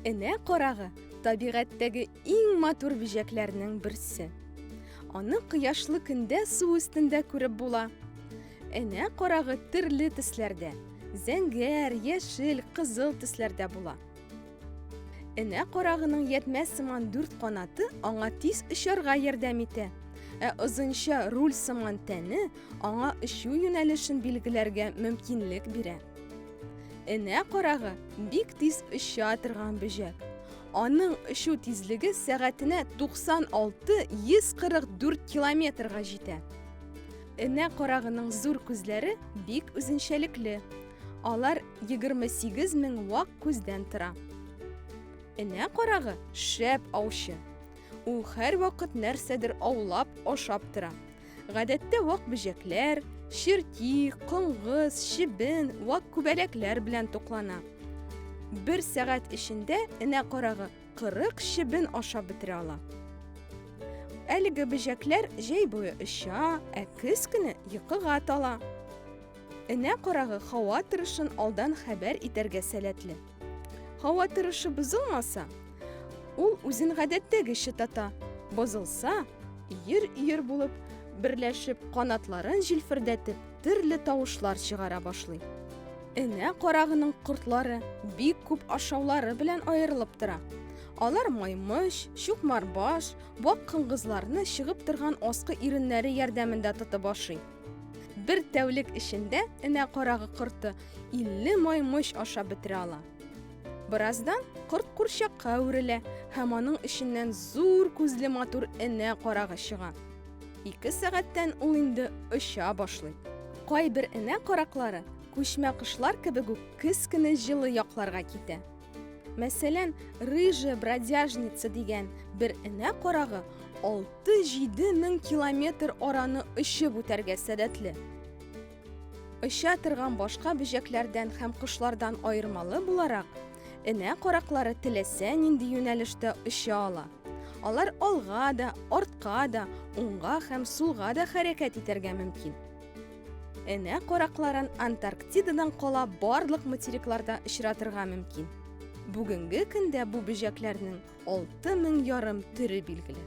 Энә карагы табигатьтәге иң матур бөҗәкләрнең берсе. Аны кояшлы көндә су өстендә күреп була. Энә карагы төрле төсләрдә, зәңгәр, яшел, кызыл төсләрдә була. Энә карагының ятмә сыман дүрт канаты аңа тиз очарга ярдәм итә. Ә озынча руль сыман тәне аңа очу юнәлешен билгеләргә мөмкинлек бирә. Энә карагы бик тиз оча торган бөҗәк. Аның очу тизлеге сәгатенә 96-144 километрга җитә. Энә карагының зур күзләре бик үзенчәлекле. Алар 28 мең вак күздән тора. Энә карагы шәп аучы. Ул һәрвакыт нәрсәдер аулап, ашап тора. Гадәттә вак бөҗәкләр, черти, коңгыз, чебен, вак күбәләкләр белән туклана. Бер сәгать эчендә энә карагы 40 чебен ашап бетерә ала. Әлеге бөҗәкләр җәй буе оча, ә көз көне йокыга тала. Энә карагы һава торышын алдан хәбәр итәргә сәләтле. Һава торышы бозылмаса, ул үзен гадәттәгечә тата. Бозылса, өер-өер булып берләшеп, канатларын җилфердәтеп, төрле тавышлар чыгара башлый. Энә карагының кортлары бик күп ашаулары белән аерылып тора. Алар маймыш, чукмарбаш, бак кыңгызларны чыгып торган аскы иреннәре ярдәмендә тотып ашый. Бер тәүлек эчендә энә карагы корты 50 маймыч ашап бетерә ала. Бераздан корт курчакка әверелә һәм аның эченнән зур күзле матур энә карагы чыга. Ике сәгатьтән ул инде оча башлый. Кайбер энә караклары күчмә кошлар кебек үк кескене җылы якларга китә. Мәсәлән, рыжая бродяжница дигән бер энә карагы 6-7 мең километр араны очып үтәргә сәләтле. Оча торган башка бөҗәкләрдән һәм кошлардан аермалы буларак, энә караклары теләсә нинди юнәлештә оча ала. Алар алга да, артка да, уңга һәм сулга да хәрәкәт итәргә мөмкин. Энә каракларын Антарктидадан кала барлык материкларда очратырга мөмкин. Бүгенге көндә бу бөҗәкләрнең 6000 ярым төре билгеле.